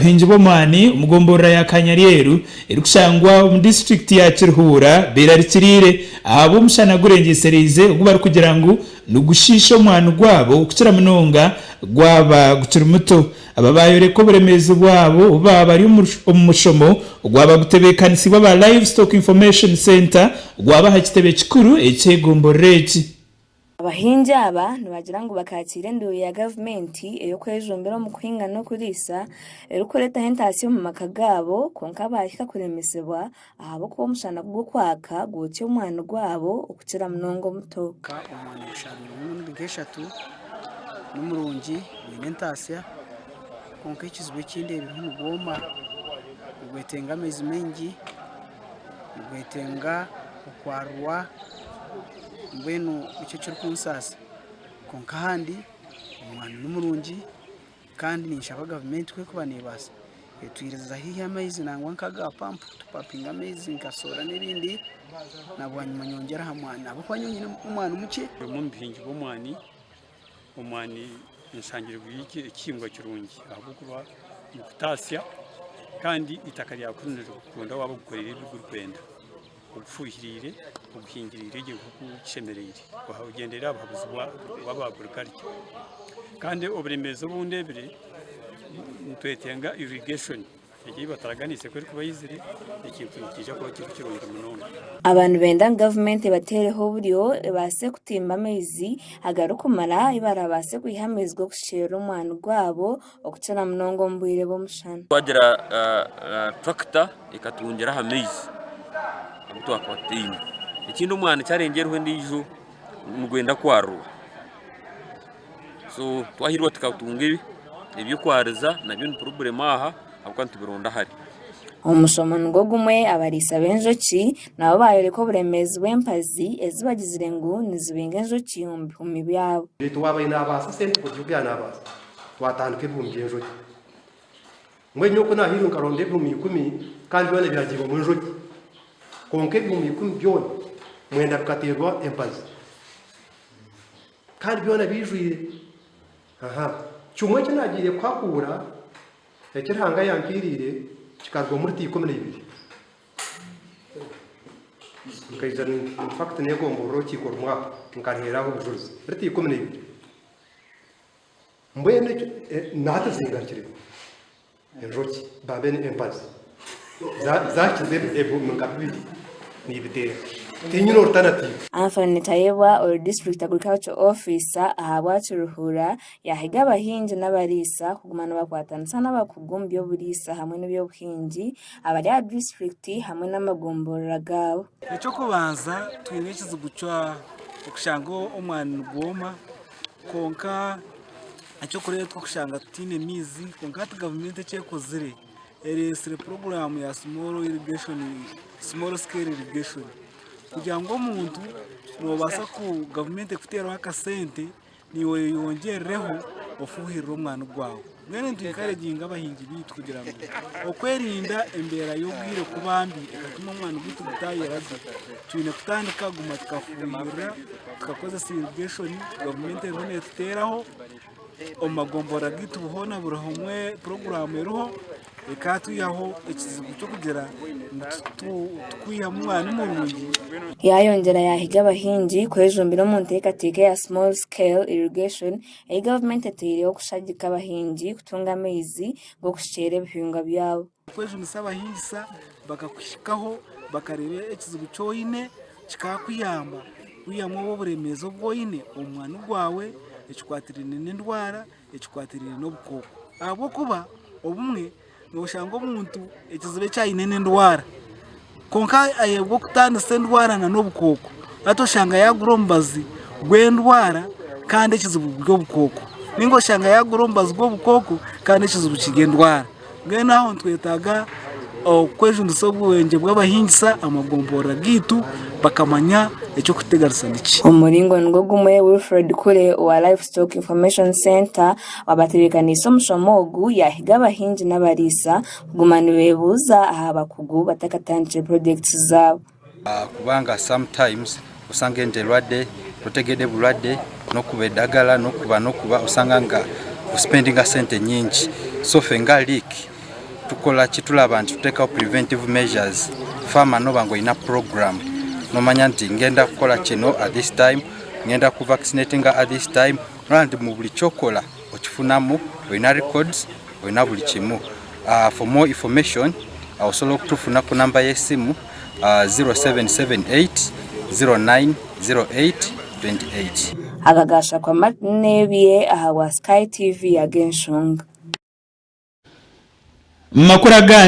Bahingi b'omwani omu gomborora ya Kanyareeru erikushangwa omu disiturikiti ya Kirihuura beerarikiriire ahabw'omushana gurengyesereize ogu barikugira ngu nigushiisha omwani gwabo kukira munonga gwaba gukiri muto. Aba baayoreka oburemeezi bwabo obu baaba bari omu mushomo ogwaba gutebeekanisiibwe aba Livestock Information Centre ogwaba aha kitebe kikuru eky'egomborora egi. Abahingi aba nibagira ngu bakaakiire enduuru ya gavumenti ey'okwejumbira omu kuhinga n'okuriisa erikureetaho entaatsi omu maka gaabo kwonka baahika kuremesibwa ahabw'okuba omushana kugukwaaka gwokya omwani gwaabo okukira munonga omuto. Omwani gusharurirwe emirundi nk'eshatu, ni murungi gwine entaasya kwonka ekizibu eki ndeebireho nigwoma, nigwetenga amaizi maingi. nigwetenga okwarurwa mbwenu nikyo ekirikunsaasa kwonka ahandi omwani nimurungi kandi ninshaba gavumenti ku erikuba neebaasa etwirize haihi amaizi nangwa nka aga pampu tupapinge amaizi nka soora n'ebindi na bwanyima nyongyere aha mwani ahabw'okuba nyowe nyine omwani mukye omwani nshangire guri ekihingwa kirungi ahabw'okuba nikutaasya kandi eitaka ryakwo nirikukunda waaba ogukoreire ebi gurikwenda, ogufuhirire, oguhingirire gye nk'oku kishemereire ogyendere aha buhabuzi bw'abakuri karye. Kandi oburemeezi obu ndeebire nitwetenga irrigation. Egyo ei bataraganiise ku erikuba eizire, ekintu nikiija kuba kiri kirungi munonga. Aba nibenda ngu gavumenti ebateereho oburyo ebaase kutimba amaizi agarikumara ahi baraabaase kwiha amaizi g'okushukyerera omwani gwabo okukira munonga omu bwire bw'omushana. Twagira turakita ekatungira aha maizi agu twakaba tutaine. Ekindi omwani kyarengyerwaho endiijo nigwenda kwaruurwa so twahiirwa tukatunga ebyokwariza nabyo ni purobulemu aha ahabw'okuba nitubironda hare. Omushomo nigwo gumwe abariisa b'enjoki nabo baayoreka oburemeezi bw'empazi ezi bagizire ngu nizibinga enjoki omu bihumi byabo. Beitu waaba aine abaasi sente kuruga obu yaabaasa, twatandika ebihumi by'enjoki. Mbwenu nyowe ku naahairwe nkaronda ebihumi ikumi, kandi byona byagiirwemu enjoki. Kwonka ebihumi ikumi byona mwenda bikateerwa empazi. Kandi byona biijwire. Aha. Kimwe eki naagiire kuhakuura, eki Ruhanga yampairiire, kikarugwamu lita ikumi na ibiri. Nkaija in fact neegomborora orukiiko rumwe aho, nkaruheeraho obujurizi. Lita ikumi na ibiri. Mbwenu ekyo nahati okigarukiremu? Enjoki baabe embazi zaakiza ebihumi nka bibiri niibiteera. Tiinyine orutanatiivu. Anthony Tayebwa ori District Agriculture Officer ahabwa Kiruhura yaahiga abahingi n'abariisa kuguma nibakwatanisa n'abakugu omu by'oburiisa hamwe n'eby'obuhingi abari aha disiturikiti hamwe n'amagomborora gaabo. Eky'okubanza twine ekizibu ky'okushanga omwani nigwoma. Kwonka eky'okureeba turikushanga tutaine maizi kwonka hati gavumenti eki ekozire ereetsire puroguramu ya simoru irigeshoni simoru sikero irigeshoni kugira ngu omuntu noobaasa ku gavumenti ekuteeraho akasente naiwe oyeyongyerireho ofuhirire omwani gwawe. Mbwenu nitwikaraginga abahingi baitu kugira ngu okwerinda embeera y'obwire kuba mbi ekatuma omwani gwaitu gutaayera gye, twine kutandika kuguma tukafuuhirira, tukakozesa irigeshoni gavumenti eriho neetuteeraho. Omu magomborora gaitu hoona buri hamwe puroguraamu eriho ekaatwihaho ekizibu ky'okugira ngu tikwihamu mwani murungi. Yaayongyera yaahiga abahingi kwejumbira omu nteekateeka ya Small Scale Irrigation Ei gavumenti eteireho kushagika abahingi kutunga amaizi g'okushukyera ebihingwa byabo. Okwejunisa abahingisa bakakuhikaho bakareeba ekizibu ki oine kikakuyamba kwihamu obwo oburemeezi obu oine omu mwani gwawe ekikwatirine n'endwara ekikwatirine n'obukooko ahabw'okuba obumwe Noshanga omuntu ekizibu eki aine n'endwara kwonka ayebwa okutandisa endwara na n'obukooko hati oshanga yagura omubazi gw'endwara kandi ekizibu guri obukooko ninga oshanga yagura omubazi gw'obukooko kandi ekizibu kiri endwara mbwenu aho nitwetaaga okwejunisa obwengye bw'abahingisa amagomborora gaitu bakamanya eky'okuteganisa niki. Omuringo nigwo gumwe Wilfred Kule owa Livestock Information Centre Waabatebeekaniise omushomo ogu yaahiga abahingi n'abariisa kuguma nibeebuuza aha bakugu batakatandikire projects zaabo. Kubanga some times osanga endwade totegede bulwade nokuba edagala nokuba nokuba osanga nga o spendinga sente nyingi so fe nga leak tukola ki tulaba nti tutekaho preventive measures farmer noba ngu oyina program nomanya nti ngenda kukola kino at this time ngenda ku vaccinatinga at this time Nooreeba nti mu buri ky'okora okifunamu, oyine records, oyine buri kimwe. For more information osobola kutufuna ku namba y'esimu 0778-0908-28. Aga gaashakwa Martin Nebye ahabwa Sky TV y'ag'enshonga. Mu makuru agandi,